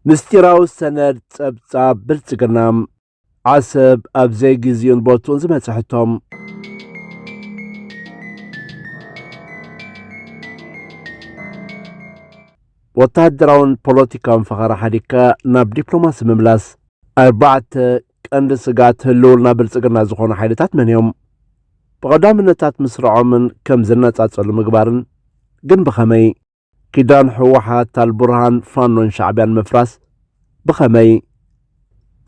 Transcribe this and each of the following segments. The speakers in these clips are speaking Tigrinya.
ምስጢራዊ ሰነድ ጸብጻብ ብልጽግና። ዓሰብ ኣብ ዘይግዚኡን ቦትኡን ዝመጸ ሕቶ። ወተሃደራውን ፖለቲካውን ፈኸራ ሓዲግካ ናብ ዲፕሎማሲ ምምላስ። ኣርባዕተ ቀንዲ ስግኣት ህልውና ብልጽግና ዝኾኑ ሓይልታት መን እዮም? ብቐዳምነታት ምስርዖምን ከም ዝነጻጸሉ ምግባርን ግን ብኸመይ? ኪዳን ህወሓት፣ ኣልቡርሃን፣ ፋኖን ሻዕቢያን ምፍራስ ብኸመይ?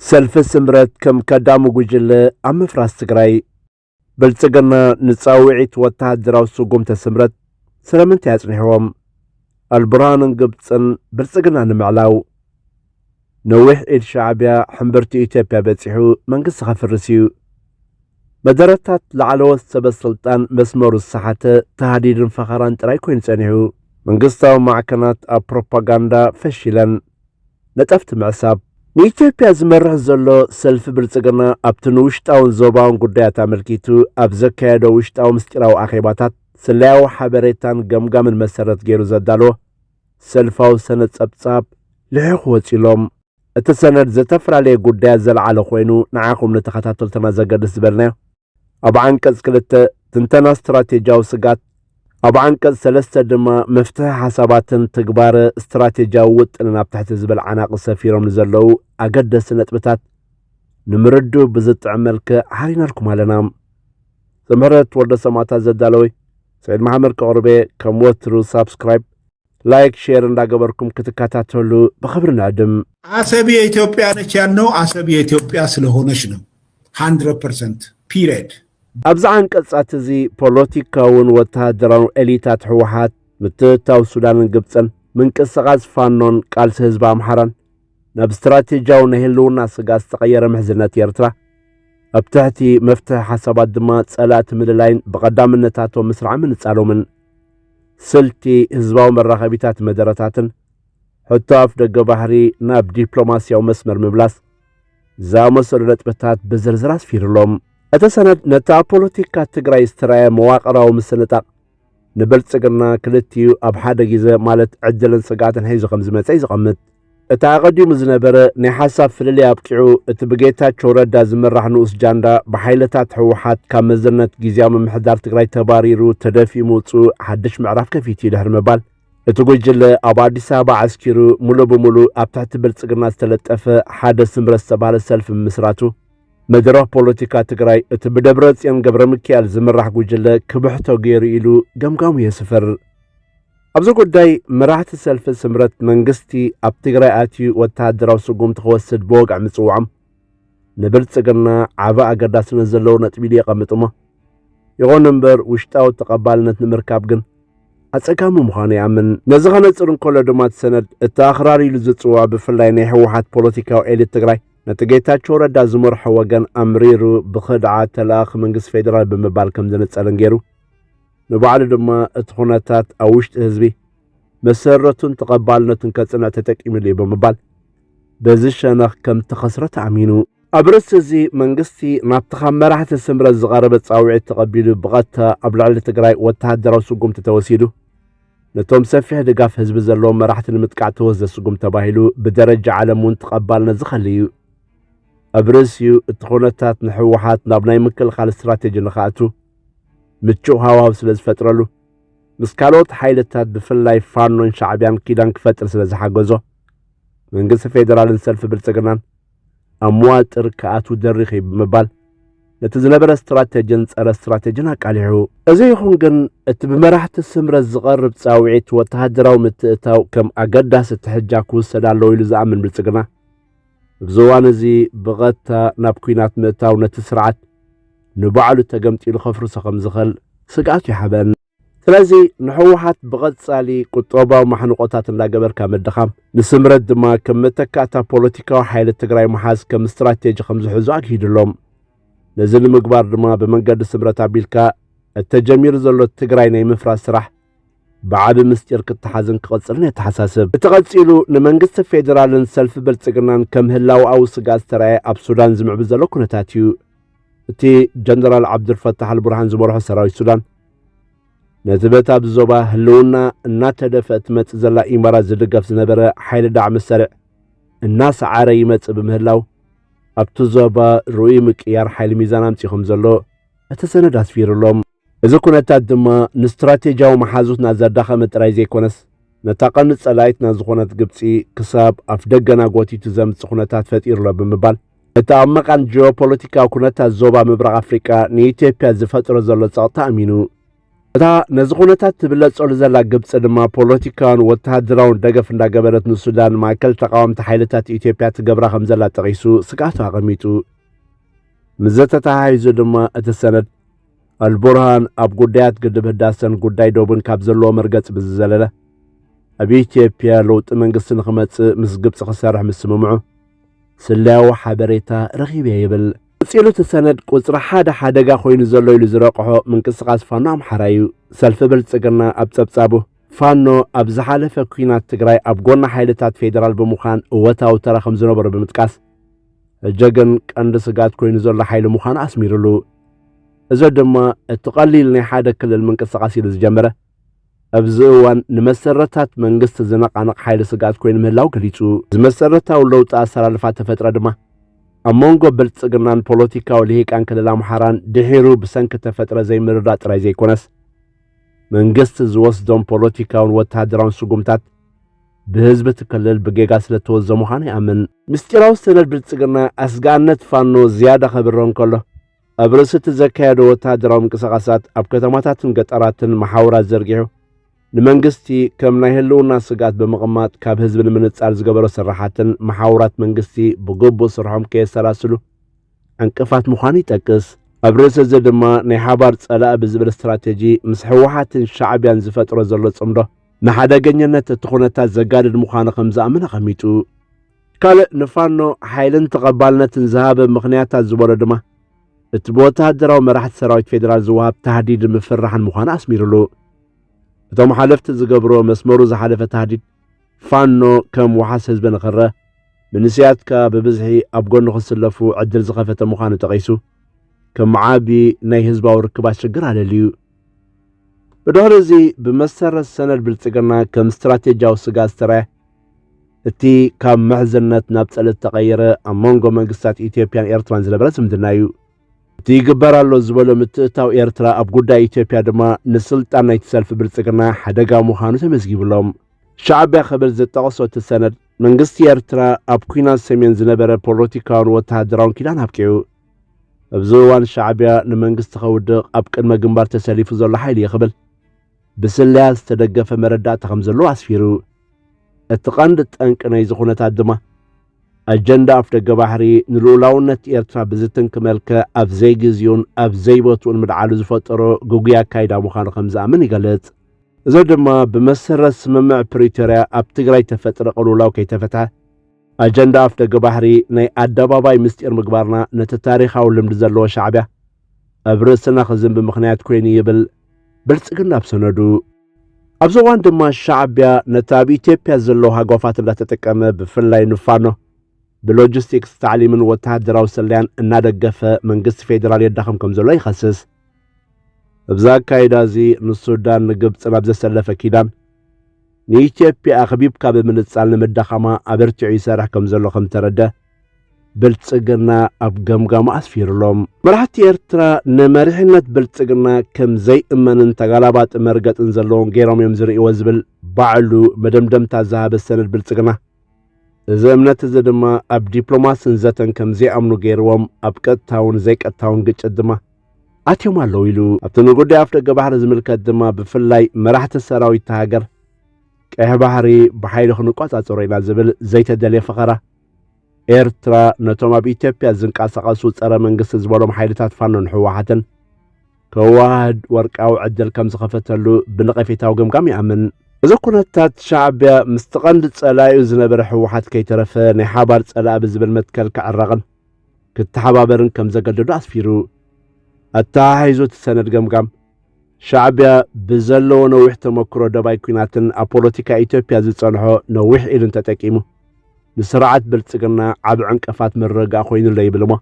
ሰልፊ ስምረት ከም ከዳሚ ጉጅለ ኣብ ምፍራስ ትግራይ ብልጽግና ንጻውዒት ወተሃደራዊ ስጉምተ ስምረት ስለምንታይ ኣጽኒሕዎም? ኣልቡርሃንን ግብጽን ብልጽግና ንምዕላው ነዊሕ ኢድ ሻዕቢያ ሕምብርቲ ኢትዮጵያ በጺሑ መንግስቲ ከፍርስ እዩ። መደረታት ላዕለዎት ሰበ ስልጣን መስመሩ ዝሰሓተ ታህዲድን ፈኸራን ጥራይ ኮይኑ ጸኒሑ። መንግስታዊ ማዕከናት ኣብ ፕሮፓጋንዳ ፈሺለን። ነጠፍቲ ምዕሳብ። ንኢትዮጵያ ዝመርሕ ዘሎ ሰልፊ ብልጽግና ኣብቲ ንውሽጣውን ዞባውን ጉዳያት ኣመልኪቱ ኣብ ዘካየዶ ውሽጣዊ ምስጢራዊ ኣኼባታት ስለያዊ ሓበሬታን ገምጋምን መሰረት ገይሩ ዘዳልዎ ሰልፋዊ ሰነድ ጸብጻብ ልሒኹ ወጺኡሎም። እቲ ሰነድ ዘተፈላለየ ጉዳያት ዘልዓለ ኮይኑ ንዓኹም ንተኸታተልትና ዘገድስ ዝበልናዮ ኣብ ዓንቀጽ ክልተ ትንተና ስትራቴጂያዊ ስጋት ኣብ ዓንቀጽ ሰለስተ ድማ መፍትሒ ሓሳባትን ትግባረ ስትራቴጂያዊ ውጥንን ኣብ ትሕቲ ዝበል ዓናቂ ሰፊሮም ንዘለዉ ኣገደሲ ነጥብታት ንምርድኡ ብዝጥዕም መልክዕ ሓሪናልኩም ኣለና። ዘምህረት ወልደ ሰማእታት ዘዳለወይ ሰይድ መሓመድ ከቕርቤ ከም ወትሩ ሳብስክራይብ ላይክ ሼር እንዳገበርኩም ክትከታተሉ ብክብሪ ንዕድም። አሰብ የኢትዮጵያ ነች ያልነው አሰብ የኢትዮጵያ ስለሆነች ነው። 100 ፐርሰንት ፒሪድ። ኣብዚ ዓንቀጻት እዚ ፖለቲካውን ወተሃደራውን ኤሊታት ህወሓት ምትእታው ሱዳንን ግብፅን ምንቅስቓስ ፋኖን ቃልሲ ህዝቢ ኣምሓራን ናብ ስትራቴጂያዊ ናይ ህልውና ስግኣት ዝተቐየረ ምሕዝነት ኤርትራ ኣብ ትሕቲ መፍትሒ ሓሳባት ድማ ጸላእቲ ምልላይን ብቐዳምነታቶ ምስራዕ ምንጻሎምን ስልቲ ህዝባዊ መራኸቢታት መደረታትን ሕቶ ኣፍ ደገ ባህሪ ናብ ዲፕሎማስያዊ መስመር ምምላስ ዝኣመሰሉ ነጥብታት ብዝርዝር ኣስፊሩሎም እቲ ሰነድ ነቲ ኣብ ፖለቲካ ትግራይ ዝተረኣየ መዋቕራዊ ምስንጣቕ ንብልጽግና ክልቲኡ ኣብ ሓደ ግዜ ማለት ዕድልን ስግኣትን ሒዙ ከም ዝመጸ እዩ ዝቐምጥ። እቲ ኣቐዲሙ ዝነበረ ናይ ሓሳብ ፍልልይ ኣብቂዑ እቲ ብጌታቸው ረዳ ዝምራሕ ንኡስ ጃንዳ ብሓይልታት ህወሓት ካብ መዝነት ግዜያዊ ምምሕዳር ትግራይ ተባሪሩ ተደፊኡ ምውጽኡ ሓድሽ ምዕራፍ ከፊቱ እዩ ድሕሪ ምባል እቲ ጉጅለ ኣብ ኣዲስ ኣበባ ዓስኪሩ ሙሉእ ብሙሉእ ኣብ ትሕቲ ብልጽግና ዝተለጠፈ ሓደ ስምረት ዝተባህለ ሰልፊ ምምስራቱ መድረኽ ፖለቲካ ትግራይ እቲ ብደብረጽዮን ገብረ ሚካኤል ዝምራሕ ጉጅለ ክብሕቶ ገይሩ ኢሉ ገምጋሙ የስፍር። ኣብዚ ጉዳይ መራሕቲ ሰልፊ ስምረት መንግስቲ ኣብ ትግራይ ኣትዩ ወተሃደራዊ ስጉምቲ ክወስድ ብወግዒ ምጽዋዖም ንብልጽግና ዓበ ኣገዳስነት ዘለዎ ነጥቢ ኢሉ የቐምጥሞ ይኹን እምበር ውሽጣዊ ተቐባልነት ንምርካብ ግን ኣጸጋሚ ምዃኑ ይኣምን ነዚ ከነጽር እንከሎ ድማ እቲ ሰነድ እቲ ኣኽራሪ ኢሉ ዝጽዋዕ ብፍላይ ናይ ህወሓት ፖለቲካዊ ኤሊት ትግራይ ነቲ ጌታቸው ረዳ ዝመርሖ ወገን ኣምሪሩ ብኽድዓት ተለኣኽ መንግስቲ ፌዴራል ብምባል ከም ዝንጸልን ገይሩ ንባዕሉ ድማ እቲ ኩነታት ኣብ ውሽጢ ህዝቢ መሰረቱን ተቐባልነቱን ከጽንዕ ተጠቂምሉ እዩ ብምባል በዚ ሸነኽ ከም ተኸስረ ተኣሚኑ ኣብ ርእሲ እዚ መንግስቲ ናብቲ ካብ መራሕቲ ስምረት ዝቐረበ ጻውዒት ተቐቢሉ ብቐጥታ ኣብ ልዕሊ ትግራይ ወተሃደራዊ ስጉምቲ ተወሲዱ ነቶም ሰፊሕ ድጋፍ ህዝቢ ዘለዎም መራሕቲ ንምጥቃዕ ተወስደ ስጉም ተባሂሉ ብደረጃ ዓለም እውን ተቐባልነት ዝኸሊ እዩ። ኣብ ርእሲኡ እቲ ኩነታት ንሕወሓት ናብ ናይ ምክልኻል ስትራቴጂ ንኽኣቱ ምቹእ ሃዋው ስለ ዝፈጥረሉ ምስ ካልኦት ሓይልታት ብፍላይ ፋኖን ሻዕቢያን ኪዳን ክፈጥር ስለ ዝሓገዞ መንግስቲ ፌዴራልን ሰልፊ ብልጽግናን ኣብ መዋጥር ክኣትው ደሪኽ እዩ ብምባል ነቲ ዝነበረ ስትራቴጅን ጸረ ስትራቴጅን ኣቃሊሑ። እዚ ይኹን ግን እቲ ብመራሕቲ ስምረት ዝቐርብ ጻውዒት ወተሃደራዊ ምትእታው ከም ኣገዳሲ ትሕጃ ክውሰድ ኣለዎ ኢሉ ዝኣምን ብልጽግና ኣብዚ እዋን እዚ ብቐጥታ ናብ ኲናት ምእታው ነቲ ስርዓት ንባዕሉ ተገምጢሉ ከፍርሶ ከም ዝኽእል ስግኣቱ ይሓበን። ስለዚ ንሕወሓት ብቐጻሊ ቁጠባዊ ማሕንቖታት እንዳገበርካ ምድኻም፣ ንስምረት ድማ ከም መተካእታ ፖለቲካዊ ሓይሊ ትግራይ ምሓዝ ከም ስትራቴጂ ከም ዝሕዙ ኣግሂድሎም። ነዚ ንምግባር ድማ ብመንገዲ ስምረት ኣቢልካ እተጀሚሩ ዘሎ ትግራይ ናይ ምፍራስ ስራሕ ብዓቢ ምስጢር ክተሓዝን ክቕጽልን የተሓሳስብ። እቲ ቀጺሉ ንመንግስቲ ፌደራልን ሰልፊ ብልጽግናን ከም ህላወኣዊ ስግኣት ዝተራእየ ኣብ ሱዳን ዝምዕብል ዘሎ ኩነታት እዩ። እቲ ጀነራል ዓብዱልፈታሕ ኣልቡርሃን ዝመርሖ ሰራዊት ሱዳን ነዚ በቲ ኣብዚ ዞባ ህልውና እናተደፍአ እትመጽእ ዘላ ኢማራት ዝድገፍ ዝነበረ ሓይሊ ዳዕ መሳርዕ እናሰዓረ ይመጽእ ብምህላው ኣብቲ ዞባ ርኡይ ምቅያር ሓይሊ ሚዛን ኣምጺ ከም ዘሎ እቲ ሰነድ ኣስፊሩሎም እዚ ኩነታት ድማ ንስትራቴጂያዊ መሓዙትና ዘዳኸመ ጥራይ ዘይኮነስ ነታ ቀንዲ ጸላኢትና ዝኾነት ግብጺ ክሳብ ኣፍ ደገና ጎቲቱ ዘምጽእ ኩነታት ፈጢሩሎ ብምባል እቲ ኣብ መቓን ጂኦፖለቲካዊ ኩነታት ዞባ ምብራቕ ኣፍሪቃ ንኢትዮጵያ ዝፈጥሮ ዘሎ ጸቕታ ኣሚኑ እታ ነዚ ኩነታት ትብለጸሉ ዘላ ግብፂ ድማ ፖለቲካውን ወተሃደራውን ደገፍ እንዳገበረት ንሱዳን ማእከል ተቃወምቲ ሓይልታት ኢትዮጵያ ትገብራ ከም ዘላ ጠቒሱ ስግኣቱ ኣቐሚጡ ምዘ ተተሓሒዙ ድማ እቲ ሰነድ ኣልቡርሃን ኣብ ጉዳያት ግድብ ህዳሰን ጉዳይ ዶብን ካብ ዘለዎ መርገፂ ብዝዘለለ ኣብ ኢትዮጵያ ለውጢ መንግስቲ ንክመፅእ ምስ ግብፂ ክሰርሕ ምስምምዑ ስለያዊ ሓበሬታ ረኺበ ይብል። ቀጺሉ እቲ ሰነድ ቁጽሪ ሓደ ሓደጋ ኮይኑ ዘሎ ኢሉ ዝረቕሖ ምንቅስቓስ ፋኖ ኣምሓራ እዩ። ሰልፊ ብልጽግና ኣብ ጸብጻቡ ፋኖ ኣብ ዝሓለፈ ኲናት ትግራይ ኣብ ጎኒ ሓይልታት ፌዴራል ብምዃን እወታዊ ተራ ከም ዝነበሮ ብምጥቃስ ሕጂ ግን ቀንዲ ስጋት ኮይኑ ዘሎ ሓይሊ ምዃኑ ኣስሚርሉ። እዚ ድማ እቲ ቀሊል ናይ ሓደ ክልል ምንቅስቓስ ኢሉ ዝጀመረ ኣብዚ እዋን ንመሰረታት መንግስቲ ዝነቓንቕ ሓይሊ ስግኣት ኮይኑ ምህላው ገሊጹ። እዚ መሰረታዊ ለውጢ ኣሰላልፋ ተፈጥረ ድማ ኣብ መንጎ ብልጽግናን ፖለቲካዊ ልሂቃን ክልል ኣምሓራን ድሒሩ ብሰንኪ ተፈጥረ ዘይምርዳእ ጥራይ ዘይኮነስ መንግስቲ ዝወስዶም ፖለቲካውን ወተሃደራውን ስጉምታት ብህዝቢ እቲ ክልል ብጌጋ ስለ እተወዘ ምዃኑ ይኣምን። ምስጢራዊ ሰነድ ብልጽግና ኣስጋእነት ፋኖ ዝያዳ ከብርህ እንከሎ፣ ኣብ ርእሲ እቲ ዘካየዶ ወተሃደራዊ ምንቅስቓሳት ኣብ ከተማታትን ገጠራትን መሓውራት ዘርጊሑ ንመንግስቲ ከም ናይ ህልውና ስግኣት ብምቕማጥ ካብ ህዝቢ ንምንጻል ዝገበሮ ስራሓትን መሓውራት መንግስቲ ብግቡእ ስርሖም ከየሰላስሉ ዕንቅፋት ምዃኑ ይጠቅስ። ኣብ ርእሲ እዚ ድማ ናይ ሓባር ጸላኢ ብዝብል ስትራቴጂ ምስ ህወሓትን ሻዕብያን ዝፈጥሮ ዘሎ ጽምዶ ንሓደገኛነት እቲ ኩነታት ዘጋድድ ምዃኑ ከም ዝኣምን ኣቐሚጡ። ካልእ ንፋኖ ሓይልን ተቐባልነትን ዝሃበ ምኽንያታት ዝበሎ ድማ እቲ ብወተሃደራዊ መራሕቲ ሰራዊት ፌዴራል ዝወሃብ ታህዲድ ምፍራሕን ምዃኑ ኣስሚሩሉ። እቶም ሓለፍቲ ዝገብርዎ መስመሩ ዝሓለፈ ታህዲድ ፋኖ ከም ወሓስ ህዝቢ ንኽረ መንስያትካ ብብዝሒ ኣብ ጎኑ ክስለፉ ዕድል ዝኸፈተ ምዃኑ ጠቒሱ ከም ዓቢ ናይ ህዝባዊ ርክባት ሽግር ኣለልዩ። ብድሕሪ እዚ ብመሰረት ሰነድ ብልጽግና ከም ስትራቴጂያዊ ስግኣት ዝተራየ እቲ ካብ ምሕዝነት ናብ ጸለ ዝተቐየረ ኣብ መንጎ መንግስታት ኢትዮጵያን ኤርትራን ዝነበረ ዝምድና እዩ። እቲ ይግበር ኣሎ ዝበሎ ምትእታው ኤርትራ ኣብ ጉዳይ ኢትዮጵያ ድማ ንስልጣን ናይቲ ሰልፊ ብልጽግና ሓደጋ ምዃኑ ተመዝጊቡ ኣሎ። ሻዕቢያ ክብል ዝጠቕሶ እቲ ሰነድ መንግስቲ ኤርትራ ኣብ ኲናት ሰሜን ዝነበረ ፖለቲካውን ወተሃደራውን ኪዳን ኣብቂዑ ኣብዚ እዋን ሻዕቢያ ንመንግስቲ ከውድቕ ኣብ ቅድመ ግንባር ተሰሊፉ ዘሎ ሓይሊ እዩ ክብል ብስለያ ዝተደገፈ መረዳእታ ከም ዘለዎ ኣስፊሩ። እቲ ቀንዲ ጠንቂ ናይዚ ኩነታት ድማ ኣጀንዳ ኣፍደገ ባሕሪ ንልኡላውነት ኤርትራ ብዝትንክ መልክዕ ኣብ ዘይግዚኡን ኣብ ዘይቦትኡን ምልዓሉ ዝፈጠሮ ግጉይ ኣካይዳ ምዃኑ ከም ዝኣምን ይገልጽ። እዚ ድማ ብመሰረት ስምምዕ ፕሪቶርያ ኣብ ትግራይ ተፈጥረ ቅልውላው ከይተፈትሐ ኣጀንዳ ኣፍደገ ባሕሪ ናይ ኣደባባይ ምስጢር ምግባርና ነቲ ታሪኻዊ ልምዲ ዘለዎ ሻዕቢያ ኣብ ርእስና ክዝንቢ ምኽንያት ኮይኑ ይብል። ብልጽግና ኣብ ሰነዱ ኣብዚ እዋን ድማ ሻዕቢያ ነቲ ኣብ ኢትዮጵያ ዘለዉ ሃጓፋት እንዳተጠቀመ ብፍላይ ንፋኖ ብሎጂስቲክስ ታዕሊምን ወተሃደራዊ ስለያን እናደገፈ መንግስቲ ፌዴራል የዳኸም ከም ዘሎ ይኸስስ እብዛ ኣካይዳ እዚ ንሱዳን ንግብፂ ናብ ዘሰለፈ ኪዳን ንኢትዮጵያ ኣኽቢብካ ብምንጻል ንምዳኻማ ኣበርቲዑ ይሰርሕ ከም ዘሎ ከም ተረደ ብልጽግና ኣብ ገምጋሙ ኣስፊሩሎም። መራሕቲ ኤርትራ ንመሪሕነት ብልጽግና ከም ዘይእመንን ተጋላባጢ መርገጽን ዘለዎም ገይሮም እዮም ዝርእይዎ ዝብል ባዕሉ መደምደምታ ዝሃበ ሰነድ ብልጽግና እዚ እምነት እዚ ድማ ኣብ ዲፕሎማስን ዘተን ከም ዘይኣምኑ ገይርዎም ኣብ ቀጥታውን ዘይቀጥታውን ግጭት ድማ ኣትዮም ኣለዉ ኢሉ ኣብቲ ንጉዳይ ኣፍ ደገ ባሕሪ ዝምልከት ድማ ብፍላይ መራሕቲ ሰራዊት ሃገር ቀይሕ ባሕሪ ብሓይሊ ክንቆጻጸሮ ኢና ዝብል ዘይተደልየ ፈኸራ ኤርትራ ነቶም ኣብ ኢትዮጵያ ዝንቀሳቐሱ ጸረ መንግስቲ ዝበሎም ሓይልታት ፋኖን ህወሓትን ከዋህድ ወርቃዊ ዕድል ከም ዝኸፈተሉ ብነቐፌታዊ ገምጋም ይኣምን እዚ ኩነታት ሻዕብያ ምስቲ ቀንዲ ጸላዩ ዝነበረ ህወሓት ከይተረፈ ናይ ሓባር ጸላኢ ብዝብል መትከል ክዕረቕን ክተሓባበርን ከም ዘገደዶ ኣስፊሩ ኣተሓሒዙ እቲ ሰነድ ገምጋም ሻዕቢያ ብዘለዎ ነዊሕ ተመክሮ ደባይ ኩናትን ኣብ ፖለቲካ ኢትዮጵያ ዝጸንሖ ነዊሕ ኢድን ተጠቂሙ ንስርዓት ብልጽግና ዓብ ዕንቀፋት ምርግጋእ ኮይኑለ ይብልሞ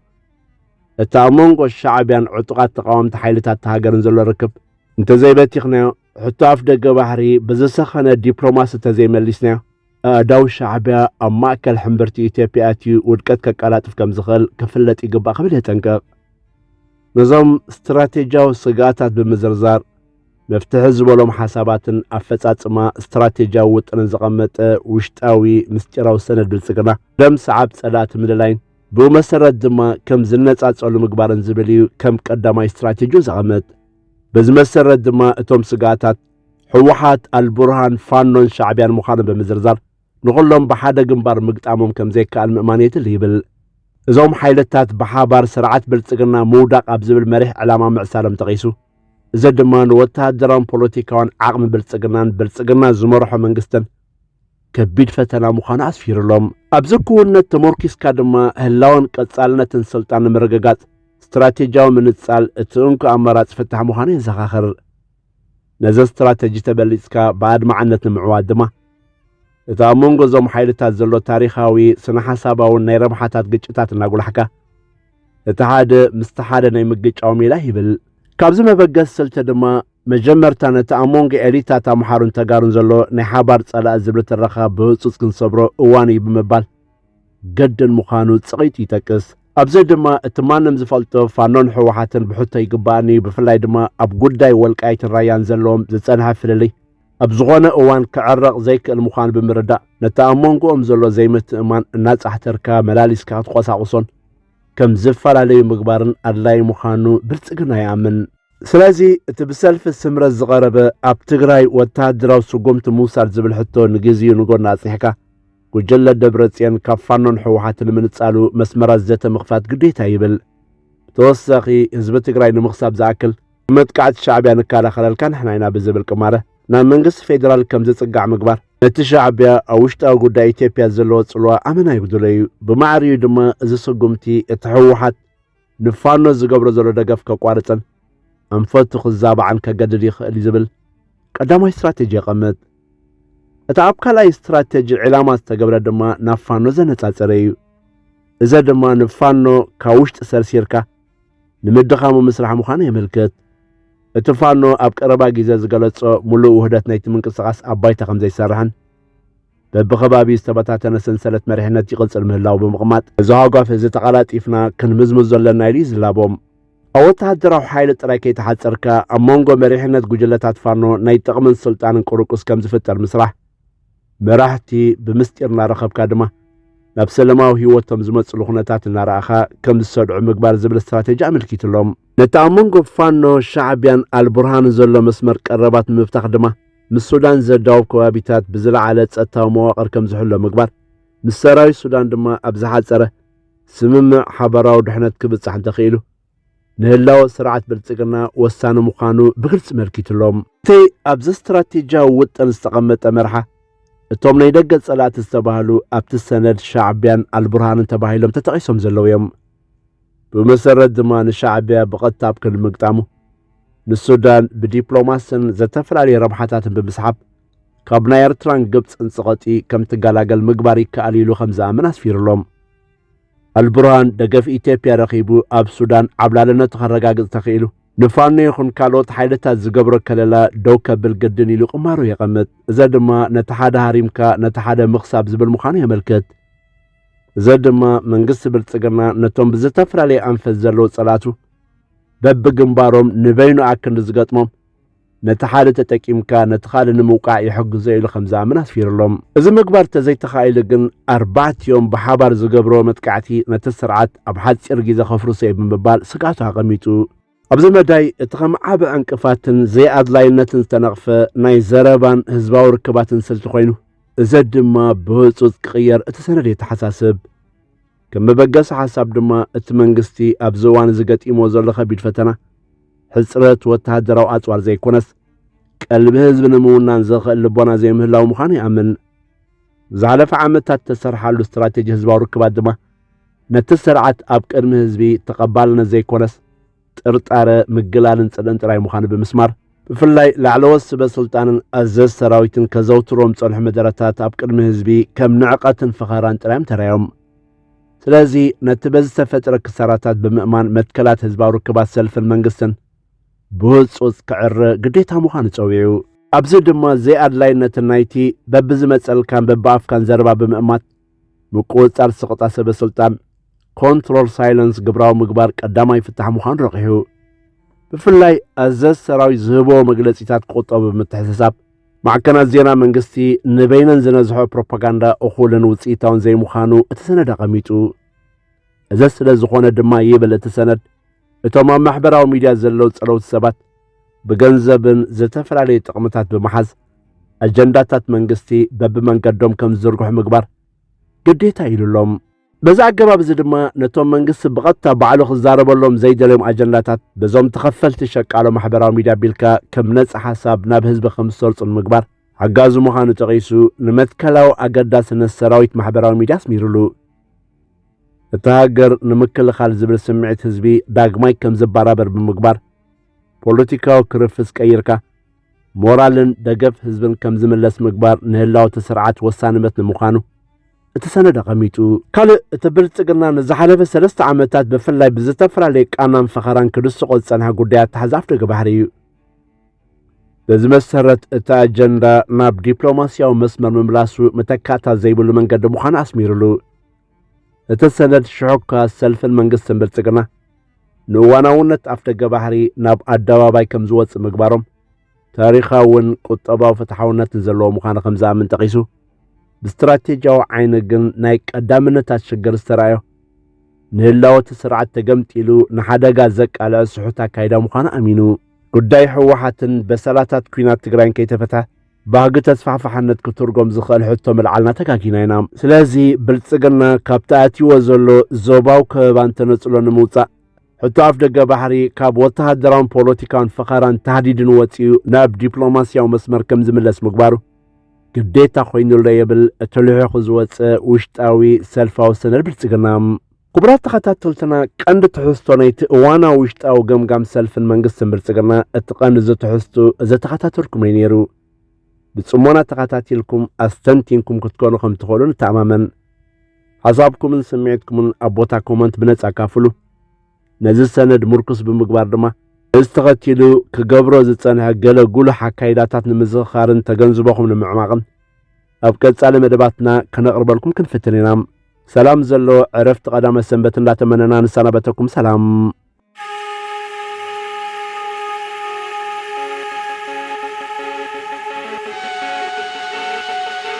እቲ ኣብ መንጎ ሻዕቢያን ዕጡቓት ተቓወምቲ ሓይልታት ተሃገርን ዘሎ ርክብ እንተዘይበቲኽናዮ ሕቶ ኣፍደገ ባሕሪ ብዝሰኸነ ዲፕሎማሲ ተዘይመሊስናዮ ኣእዳው ሻዕቢያ ኣብ ማእከል ሕምብርቲ ኢትዮጵያ ኣትዩ ውድቀት ከቀላጥፍ ከም ዝኽእል ክፍለጥ ይግባእ ክብል የጠንቅቕ። ነዞም ስትራቴጂያዊ ስግኣታት ብምዝርዛር መፍትሒ ዝበሎም ሓሳባትን ኣፈጻጽማ ስትራቴጂያዊ ውጥንን ዘቐመጠ ውሽጣዊ ምስጢራዊ ሰነድ ብልጽግና ደም ሰዓብ ጸላእቲ ምልላይን ብኡ መሰረት ድማ ከም ዝነጻጸሉ ምግባርን ዝብል እዩ ከም ቀዳማይ ስትራቴጂኡ ዘቐመጥ። በዚ መሰረት ድማ እቶም ስግኣታት ህወሓት፣ ኣልቡርሃን፣ ፋኖን ሻዕቢያን ምዃኑ ብምዝርዛር ንኹሎም ብሓደ ግንባር ምግጣሞም ከም ዘይከኣል ምእማን የድሊ ይብል። እዞም ሓይልታት ብሓባር ስርዓት ብልጽግና ምውዳቕ ኣብ ዝብል መሪሕ ዕላማ ምዕሳሎም ጠቒሱ እዚ ድማ ንወተሃደራውን ፖለቲካውን ዓቕሚ ብልጽግናን ብልጽግና ዝመርሖ መንግስትን ከቢድ ፈተና ምዃኑ ኣስፊሩሎም። ኣብዚ ክውነት ተመርኪስካ ድማ ህላወን ቀጻልነትን ስልጣን ንምርግጋጽ ስትራቴጂያዊ ምንጻል እቲ እንኮ ኣማራጺ ፍታሕ ምዃኑ የዘኻኽር። ነዚ ስትራተጂ ተበሊጽካ ብኣድማዕነት ንምዕዋት ድማ፣ እቲ ኣብ መንጎ እዞም ሓይልታት ዘሎ ታሪኻዊ፣ ስነ-ሓሳባውን ናይ ረብሓታት ግጭታት እናጉላሕካ፣ እቲ ሓደ ምስቲ ሓደ ናይ ምግጫው ሜላ ይብል። ካብዚ መበገሲ ስልቲ ድማ፣ መጀመርታ ነቲ ኣብ መንጎ ኤሊታት ኣምሓሩን ተጋሩን ዘሎ ናይ ሓባር ጸላኢ ዝብሊ ትረኻ ብህጹጽ ክንሰብሮ እዋኑ'ዩ ብምባል፣ ገድል ምዃኑ ጽቒቱ ይጠቅስ። ኣብዚ ድማ እቲ ማንም ዝፈልጦ ፋኖን ህወሓትን ብሕቶ ይግባእኒ ብፍላይ ድማ ኣብ ጉዳይ ወልቃይትን ራያን ዘለዎም ዝጸንሐ ፍልልይ ኣብ ዝኾነ እዋን ክዕረቕ ዘይክእል ምዃኑ ብምርዳእ ነቲ ኣብ መንጎኦም ዘሎ ዘይምትእማን እናጻሕተርካ መላሊስካ ክትቆሳቑሶን ከም ዝፈላለዩ ምግባርን ኣድላዪ ምዃኑ ብልጽግና ይኣምን። ስለዚ እቲ ብሰልፊ ስምረት ዝቐረበ ኣብ ትግራይ ወተሃደራዊ ስጉምቲ ምውሳድ ዝብል ሕቶ ንግዜኡ ንጎኒ ኣጽኒሕካ፣ ጉጅለ ደብረጽዮን ካብ ፋኖን ህወሓትን ንምንጻሉ መስመራት ዘተ ምኽፋት ግዴታ ይብል። ብተወሳኺ ህዝቢ ትግራይ ንምኽሳብ ዝኣክል መጥቃዕቲ ሻዕቢያ ንከላኸለልካ ንሕና ኢና ብዝብል ቅማረ ናብ መንግስቲ ፌዴራል ከም ዝጽጋዕ ምግባር ነቲ ሻዕቢያ ኣብ ውሽጣዊ ጉዳይ ኢትዮጵያ ዘለዎ ጽልዋ ኣመና ይጉድሎ እዩ። ብማዕሪኡ ድማ እዚ ስጉምቲ እቲ ህወሓት ንፋኖ ዝገብሮ ዘሎ ደገፍ ከቋርጽን ኣንፈቱ ክዛባዕን ከገድድ ይኽእል እዩ ዝብል ቀዳማይ ስትራቴጂ የቐምጥ። እቲ ኣብ ካልኣይ ስትራቴጂ ዕላማ ዝተገብረ ድማ ናብ ፋኖ ዘነጻጸረ እዩ። እዘ ድማ ንፋኖ ካብ ውሽጢ ሰርሲርካ ንምድኻሙ ምስራሕ ምዃኑ የመልክት። እቲ ፋኖ ኣብ ቀረባ ግዜ ዝገለጾ ምሉእ ውህደት ናይቲ ምንቅስቓስ ኣብ ባይታ ከም ዘይሰርሕን በብኸባቢኡ ዝተበታተነ ሰንሰለት መሪሕነት ይቕጽል ምህላው ብምቕማጥ እዚ ሃጓፍ እዚ ተቐላጢፍና ክንምዝምዝ ዘለና ኢሉ ይዝላቦም። ኣብ ወተሃደራዊ ሓይሊ ጥራይ ከይተሓጸርካ ኣብ መንጎ መሪሕነት ጉጅለታት ፋኖ ናይ ጥቕምን ስልጣንን ቅሩቁስ ከም ዝፍጠር ምስራሕ መራሕቲ ብምስጢር እናረኸብካ ድማ ናብ ሰለማዊ ህይወቶም ዝመፅሉ ኩነታት እናረኣኻ ከም ዝሰድዑ ምግባር ዝብል ስትራቴጂ ኣመልኪትሎም ነቲ ኣብ መንጎ ፋኖ ሻዕቢያን ኣልቡርሃንን ዘሎ መስመር ቀረባት ንምብታኽ ድማ ምስ ሱዳን ዘዳውብ ከባቢታት ብዝለዓለ ጸጥታዊ መዋቕር ከም ዝሕሎ ምግባር፣ ምስ ሰራዊት ሱዳን ድማ ኣብ ዝሓጸረ ስምምዕ ሓባራዊ ድሕነት ክብጻሕ እንተኽኢሉ፣ ንህላወ ስርዓት ብልጽግና ወሳኒ ምዃኑ ብግልጺ መልኪቱ'ሎ። እቲ ኣብዚ ስትራቴጂያዊ ውጥን ዝተቐመጠ መርሓ፣ እቶም ናይ ደገ ጸላእቲ ዝተባህሉ ኣብቲ ሰነድ ሻዕቢያን ኣልቡርሃንን ተባሂሎም ተጠቒሶም ዘለዉ እዮም። ብመሰረት ድማ ንሻዕቢያ ብቐጥታ ኣብ ክንዲ ምግጣሙ ንሱዳን ብዲፕሎማስን ዘተፈላለየ ረብሓታትን ብምስሓብ ካብ ናይ ኤርትራን ግብፅን ጽቐጢ ከም ትገላገል ምግባር ይከኣል ኢሉ ከም ዝኣምን ኣስፊሩሎም። ኣልቡርሃን ደገፍ ኢትዮጵያ ረኺቡ ኣብ ሱዳን ዓብላልነቱ ከረጋግጽ ተኽኢሉ ንፋኖ ይኹን ካልኦት ሓይልታት ዝገብሮ ከለላ ደው ከብል ግድን ኢሉ ቁማሩ የቐምጥ። እዚ ድማ ነቲ ሓደ ሃሪምካ ነቲ ሓደ ምኽሳብ ዝብል ምዃኑ የመልክት። እዚ ድማ መንግስቲ ብልጽግና ነቶም ብዝተፈላለየ ኣንፈት ዘለዉ ጸላቱ በብግንባሮም ንበይኑ ኣክንዲ ዝገጥሞም ነቲ ሓደ ተጠቂምካ ነቲ ካልእ ንምውቃዕ ይሕግዞ ኢሉ ከም ዝኣምን ኣስፊሩሎም እዚ ምግባር ተዘይተኻኢሉ ግን ኣርባዕቲኦም ብሓባር ዝገብርዎ መጥቃዕቲ ነቲ ስርዓት ኣብ ሓጺር ግዜ ከፍርሶ እዩ ብምባል ስግኣቱ ኣቐሚጡ ኣብዚ መዳይ እቲ ከም ዓቢ ዕንቅፋትን ዘይኣድላይነትን ዝተነቕፈ ናይ ዘረባን ህዝባዊ ርክባትን ስልቲ ኮይኑ እዚ ድማ ብህጹጽ ክቕየር እቲ ሰነድ የተሓሳስብ። ከም መበገሲ ሓሳብ ድማ እቲ መንግስቲ ኣብዚ እዋን እዚ ገጢሞ ዘሎ ከቢድ ፈተና ሕጽረት ወተሃደራዊ ኣጽዋር ዘይኮነስ ቀልቢ ህዝቢ ንምውናን ዘኽእል ልቦና ዘይምህላው ምዃኑ ይኣምን። ዝሓለፈ ዓመታት ተሰርሓሉ ስትራቴጂ ህዝባዊ ርክባት ድማ ነቲ ስርዓት ኣብ ቅድሚ ህዝቢ ተቐባልነት ዘይኮነስ ጥርጣረ፣ ምግላልን ጽልእን ጥራይ ምዃኑ ብምስማር፣ ብፍላይ ላዕለዎት ስበ ስልጣንን ኣዘዝ ሰራዊትን ከዘውትሮም ጸንሑ መደረታት ኣብ ቅድሚ ህዝቢ ከም ንዕቐትን ፈኸራን ጥራዮም ተራዮም። ስለዚ ነቲ በዚ ዝተፈጥረ ክሳራታት ብምእማን መትከላት ህዝባዊ ርክባት ሰልፍን መንግስትን ብህጹጽ ክዕረ ግዴታ ምዃኑ ጸዊዑ ኣብዚ ድማ ዘይኣድላይነት ናይቲ በብዝመጸልካን በብኣፍካን ዘረባ ብምእማት ምቁጽጻር ስቕታ ሰበ ስልጣን ኮንትሮል ሳይለንስ ግብራዊ ምግባር ቀዳማይ ፍታሕ ምዃኑ ረቂሑ ብፍላይ ኣዘዝ ሰራዊት ዝህቦ መግለጺታት ክቁጠቡ ብምትሕስሳብ ማዕከናት ዜና መንግስቲ ንበይነን ዝነዝሖ ፕሮፓጋንዳ እኹልን ውፅኢታውን ዘይምዃኑ እቲ ሰነድ ኣቐሚጡ እዚ ስለ ዝኾነ ድማ ይብል እቲ ሰነድ እቶም ኣብ ማሕበራዊ ሚድያ ዘለዉ ጸለውቲ ሰባት ብገንዘብን ዝተፈላለዩ ጥቕምታት ብምሓዝ ኣጀንዳታት መንግስቲ በብመንገዶም ከም ዝዝርግሑ ምግባር ግዴታ ኢሉሎም በዚ ኣገባብ እዚ ድማ ነቶም መንግስቲ ብቐጥታ ባዕሉ ክዛረበሎም ዘይደልዮም ኣጀንዳታት በዞም ተኸፈልቲ ሸቃሎ ማሕበራዊ ሚድያ ቢልካ ከም ነጻ ሓሳብ ናብ ህዝቢ ከም ዝሰርጹ ንምግባር ሓጋዚ ምዃኑ ጠቒሱ ንመትከላዊ ኣገዳስነት ሰራዊት ማሕበራዊ ሚድያ ኣስሚሩሉ። እታ ሃገር ንምክልኻል ዝብል ስምዒት ህዝቢ ዳግማይ ከም ዝባራበር ብምግባር ፖለቲካዊ ክርፍስ ቀይርካ ሞራልን ደገፍ ህዝብን ከም ዝምለስ ምግባር ንህላወቲ ስርዓት ወሳንበት ንምዃኑ እቲ ሰነድ ኣቐሚጡ ካልእ እቲ ብልጽግና ንዝሓለፈ ሰለስተ ዓመታት ብፍላይ ብዝተፈላለየ ቃናን ፈኸራን ክድስቆ ዝጸንሐ ጉዳይ ኣተሓዛ ኣፍደገ ባሕሪ እዩ በዚ መሰረት እቲ ኣጀንዳ ናብ ዲፕሎማስያዊ መስመር ምምላሱ መተካእታ ዘይብሉ መንገዲ ምዃኑ ኣስሚሩሉ እቲ ሰነድ ሽዑ እኳ ሰልፍን መንግስትን ብልጽግና ንእዋናውነት ኣፍደገ ባህሪ ናብ ኣደባባይ ከም ዝወጽእ ምግባሮም ታሪኻውን ቁጠባዊ ፍትሓውነትን ዘለዎ ምዃኑ ከም ዝኣምን ጠቒሱ ብስትራቴጂያዊ ዓይኒ ግን ናይ ቀዳምነታት ሽግር ዝተራእዮ ንህላወ እቲ ስርዓት ተገምጢሉ ንሓደጋ ዘቃልዐ ስሑት ኣካይዳ ምዃኑ ኣሚኑ ጉዳይ ህወሓትን በሰላታት ኲናት ትግራይን ከይተፈትሐ ባህጊ ተስፋሕፋሕነት ክትርጎም ዝኽእል ሕቶ ምልዓልና ተጋጊና ኢና። ስለዚ ብልጽግና ካብቲ ኣትይዎ ዘሎ ዞባዊ ከበባን ተነጽሎ ንምውጻእ ሕቶ ኣፍ ደገ ባሕሪ ካብ ወተሃደራውን ፖለቲካውን ፈኸራን ታህዲድን ወጺኡ ናብ ዲፕሎማስያዊ መስመር ከም ዝምለስ ምግባሩ ግዴታ ኮይኑሎ የብል እቲ ልሒኹ ዝወጸ ውሽጣዊ ሰልፋዊ ሰነድ ብልጽግና። ክቡራት ተኸታተልትና ቀንዲ ትሕዝቶ ናይቲ እዋናዊ ውሽጣዊ ገምጋም ሰልፍን መንግስትን ብልጽግና እቲ ቀንዲ ዘተሕዝቱ ዘተኸታተልኩም እዩ ነይሩ። ብጽሞና ተኸታቲልኩም ኣስተንቲንኩም ክትኮኑ ከም ትኽእሉ ንተኣማመን። ሓሳብኩምን ስምዒትኩምን ኣብ ቦታ ኮመንት ብነጻ ኣካፍሉ። ነዚ ሰነድ ምርኩስ ብምግባር ድማ እዚ ተኸቲሉ ክገብሮ ዝጸንሐ ገለ ጉሉሕ ኣካይዳታት ንምዝኽኻርን ተገንዝቦኹም ንምዕማቕን ኣብ ቀጻሊ መደባትና ከነቕርበልኩም ክንፍትን ኢና። ሰላም ዘለዎ ዕረፍቲ ቀዳመ ሰንበት እንዳተመነና ንሰናበተኩም ሰላም።